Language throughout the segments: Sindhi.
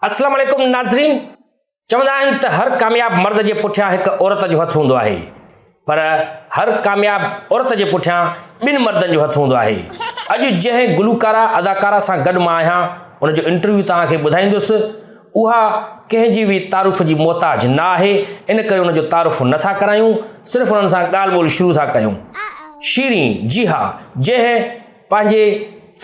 اسلام عليڪم ناظرين چوندا آهن ته هر ڪامياب مرد جي پٺيان هڪ عورت جو هٿ هوندو آهي پر هر ڪامياب عورت جي پٺيان ٻن مردن جو هٿ هوندو آهي اڄ جنهن گلوڪارا اداڪارا سان گڏ مان آهيان ان جو انٽرويو توهان کي ٻڌائيندس اها ڪنهن جي به تعارف جي محتاج نه آهي ان ڪري ان جو تعارف نٿا ڪرايون صرف انهن سان ڳالهه ٻولهه شروع ٿا ڪيون شيرين جي ها جنهن پنهنجي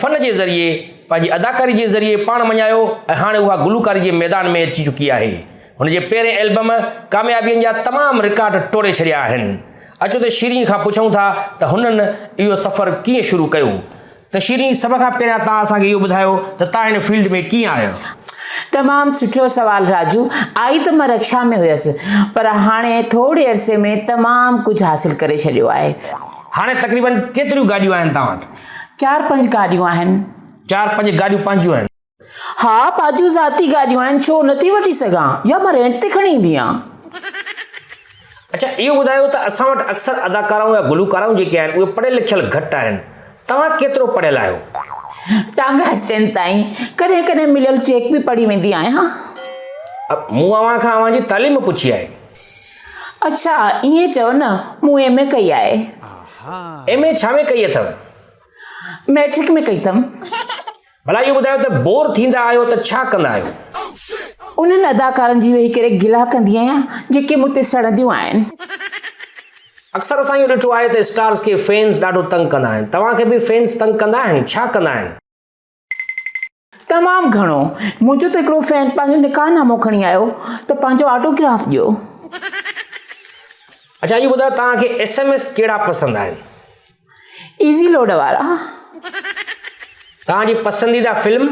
فن جي ذريعي، پنهنجي اداڪاري جي ذريعي پاڻ مڃايو ۽ هاڻي اها گلوڪاري جي ميدان ۾ اچي چڪي آهي. هن جي پهرين البم ڪاميابين جا تمام رڪارڊ ٽوڙي ڇڏيا آهن. اچو ته شيرين کان پڇون ٿا ته هنن اهو سفر ڪيئن شروع ڪيو؟ ته شيرين سڀ کان پهريان توهان اسان کي اهو ٻڌايو ته توهان هن فيلڊ ۾ ڪيئن آيا؟ تمام سٺو سوال راجو، آئي ته مان رڪشا ۾ هيس پر هاڻي ٿوري عرصي ۾ تمام ڪجهه حاصل ڪري ڇڏيو آهي. هاڻي تقريبن ڪيتريون گاڏيون آهن توهان وٽ؟ چار پنج گاڏيون آهن. چار پنج گاڏيون پنهنجيون آهن؟ ها پنهنجيون ذاتي گاڏيون آهن ڇو نه ٿي وٺي سگهان يا مان رينٽ تي کڻي ايندي آهيان. اڇا اهو ٻڌايو ته اسان وٽ اڪثر اداڪارائون يا گلوڪارائون جيڪي آهن اهي پڙهيل لکيل گهٽ آهن توهان ڪيترو پڙهيل آهيو؟ ٽانگا اسٽينڊ تائين ڪڏهن ڪڏهن مليل چيڪ به پڙهي ويندي آهيان. مون اوهان کان اوهان جي تعليم پڇي آهي. اڇا ائين چئو نه، مون ايم اي ڪئي آهي. ايم اي ڇا ۾ ڪئي اٿئو؟ مئٽرڪ ۾ ڪئي اٿم. ڀلا اهو ٻڌايو ته بور ٿيندا آهيو ته ڇا ڪندا آهيو؟ انهن اداڪارن جي ويهي ڪري گلا ڪندي آهيان جيڪي مون تي سڙنديون آهن. اڪثر اسان اهو ڏٺو آهي ته اسٽارز کي فينز ڏاڍو تنگ ڪندا آهن. توهان کي به فينز تنگ ڪندا آهن؟ ڇا ڪندا آهن؟ تمام گهڻو منهنجو ته هڪڙو فين پنهنجو نڪاح نامو کڻي آيو ته پنهنجو آٽو گراف ڏيو. اڇا اهو ٻڌايو توهان کي ايس ايم ايس ڪهڙا پسند آهن. ايزي لوڊ وارا. توهان جي پسنديده فلم.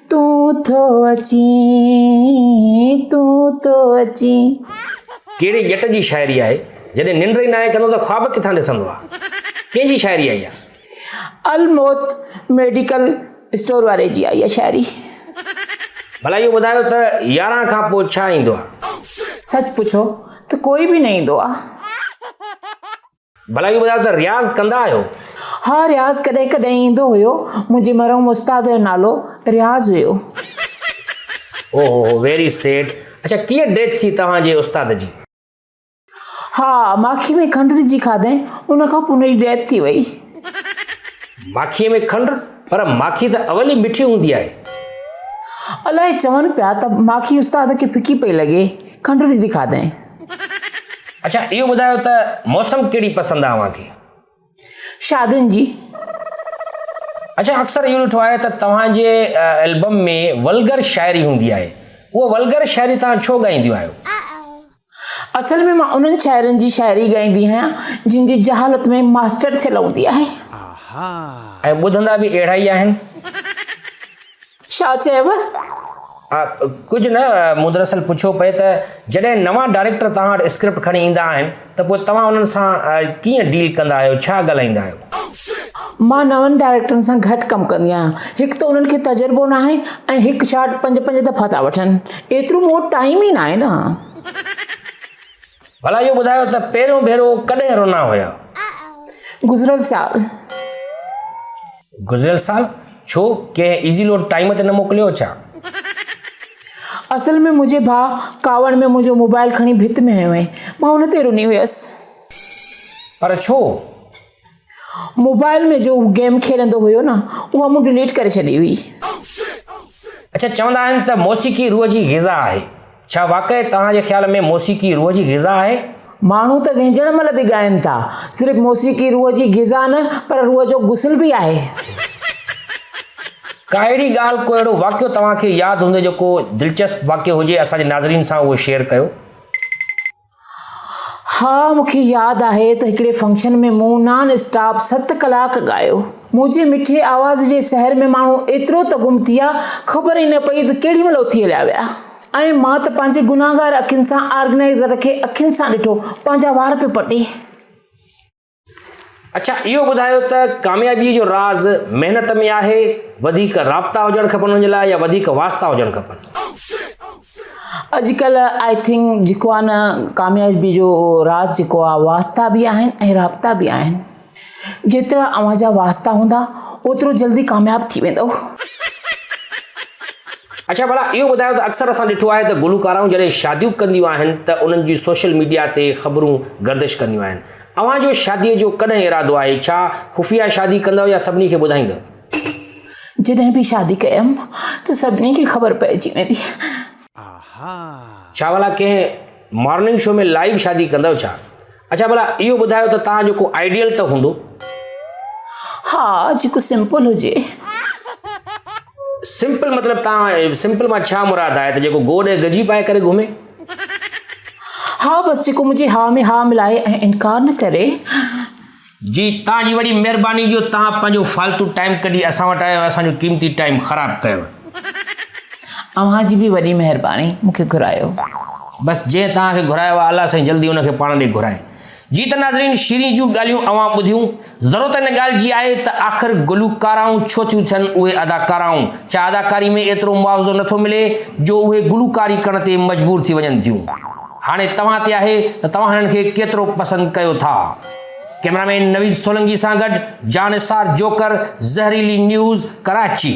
تون ٿو اچين تون ٿو اچين. ڪهڙي ڄٽ جي شاعري آهي. جڏهن ننڊ ئي ناهي ڪندو ته خواب ڪٿان ڏسندو آ. ڪنهن جي شاعري آهي اها. الموت ميڊيڪل اسٽور واري جي آهي اها شاعري. ڀلا اهو ٻڌايو ته يارهن کان پوء ڇا ايندو آ. سچ پڇو ته ڪوئي به نه ايندو آ. ڀلا اهو ٻڌايو ته رياض ڪندا آهيو؟ ها رياض ڪڏهن ڪڏهن ايندو هيو. منهنجي مرحوم استاد جو نالو رياض هيو. او هو هو ويري سيڊ اڇا ڪيئن ڊيٿ ٿي توهان جي استاد جي؟ ها ماکي ۾ کنڊ وجهي کاڌائين ان کان پوء هن جي ڊيٿ ٿي وئي. ماکي ۾ کنڊ؟ پر ماکي ته اول ئي مٺي هوندي آهي. الائي چون پيا ته ماکي استاد کي ڦڪي پئي لڳي کنڊ وجهي کاڌائين. اڇا اهو ٻڌايو ته موسم ڪهڙي پسند آهي اوهان کي؟ شادين جي. اڇا اڪثر اهو ڏٺو آهي ته توهان جي البم ۾ ولگر شاعري هوندي آهي اها ولگر شاعري توهان ڇو ڳائينديون آهيو؟ اصل ۾ مان انهن شاعرن جي شاعري ڳائيندي آهيان جن جي جهالت ۾ ماسٽر ٿيل هوندي آهي. ۽ ٻڌندا به اهڙا ئي آهن. ڇا چيو؟ آء ڪجهه نه، مون دراصل پڇيو پئي ته جڏهن نوان ڊائريڪٽر توهان وٽ اسڪرپٽ کڻي ايندا آهن ته پوء توهان انهن سان ڪيئن ڊيل ڪندا آهيو، ڇا ڳالهائيندا آهيو؟ مان نون ڊائريڪٽرن سان گهٽ ڪم ڪندي آهيان، هڪ ته انهن کي تجربو ناهي ۽ هڪ شاٽ پنج پنج دفعا ٿا وٺن، ايترو مون وٽ ٽائيم ئي ناهي نه. ڀلا اهو ٻڌايو ته پهريون ڀيرو ڪڏهن رونا هيا؟ گذريل سال. گذريل سال؟ ڇو ڪنهن ايزي لوڊ ٽائيم تي نه موڪليو ڇا؟ اصل ۾ منهنجي ڀاء ڪاوڙ ۾ منهنجو موبائل کڻي ڀت ۾ هنيو هئي، مان ان تي روني هيس. پر ڇو؟ موبائل ۾ جو هو گيم کيڏندو هيو نه اها مون ڊليٽ ڪري ڇڏي هئي. اڇا چوندا آهن ته موسيقي روح جي غذا آهي ڇا واقعي توهان جي خيال ۾ موسيقي روح جي غذا آهي؟ ماڻهو ته وينجهڻ مهل به ڳائين ٿا. صرف موسيقي روح جي غذا نه پر روح جو غسل به آهي. ڪا اهڙي ڳالهه ڪو اهڙو واقعو توهان کي ياد هوندي جو ڪو دلچسپ واقعو هجي اسان جي ناظرين سان اهو شيئر ڪيو. ها مونکي ياد آهي ته هڪڙي فنڪشن ۾ مون نان اسٽاپ ست ڪلاڪ ڳايو. منهنجي مٺي آواز جي سحر ۾ ماڻهو ايترو ته گم ٿيا خبر ئي نه پئي ته ڪهڙي مهل اٿي هليا ويا ۽ مان ته پنهنجي گناهگار اکين سان آرگنائيزر کي اکين سان ڏٺو پنهنجا وار پيو پٽي. اڇا اهو ٻڌايو ته ڪاميابي جو راز محنت ۾ آهي وڌيڪ رابطا هجڻ کپن ان جي لاء يا وڌيڪ واسطا هجڻ کپن اڄڪلهه آئي ٿنڪ جيڪو آهي نه ڪاميابي جو راز جيڪو آهي واسطا به آهن ۽ رابطا به آهن جيترا اوهان جا واسطا هوندا اوترو جلدي ڪامياب ٿي ويندو اڇا ڀلا اهو ٻڌايو ته اڪثر اسان ڏٺو آهي ته گلوڪارائون جڏهن شاديون ڪنديون آهن ته انهن جي سوشل ميڊيا تي خبرون گردش ڪنديون آهن اوهان جو شاديء جو ڪڏهن ارادو آهي؟ ڇا خفيه شادي ڪندؤ يا سڀني کي ٻڌائيندؤ؟ جڏهن به شادي ڪيم ته سڀني کي خبر پئجي ويندي. ڇا ڀلا ڪنهن مارننگ شو ۾ لائيو شادي ڪندؤ ڇا؟ اڇا ڀلا اهو ٻڌايو ته توهان جو ڪو آئيڊيل ته هوندو؟ ها جيڪو سمپل هجي. سمپل مطلب توهان سمپل مان ڇا مراد آهي ته جيڪو گوڏ ۽ گجي پائي ڪري گهمي؟ ها بس جيڪو منهنجي ها ۾ ها ملائي ۽ انڪار نه ڪري. جي توهان جي وڏي مهرباني جو توهان پنهنجو فالتو ٽائيم ڪڍي اسان وٽ آيا ۽ اسان جو قيمتي ٽائيم خراب ڪيو. اوهان جي به وڏي مهرباني مون کي گهرايو. بس جنهن توهان کي گهرايو آهي الله سائين جلدي ان کي پاڻ ڏي گهرائي. جي ته ناظرين شيرين جون ڳالهيون اوهان ٻڌيون، ضرورت ان ڳالهه جي آهي ته آخر گلوڪارائون ڇو ٿيون ٿين اهي اداڪارائون، ڇا اداڪاري ۾ ايترو معاوضو نٿو ملي جو اهي گلوڪاري ڪرڻ تي مجبور ٿي وڃن ٿيون، هاڻي توهان تي آهي ته توهان هنن کي ڪيترو پسند ڪيو ٿا. ڪئميرا مين نويد سولنگي سان گڏ جان نثار جوڪر زهريلي نيوز ڪراچي.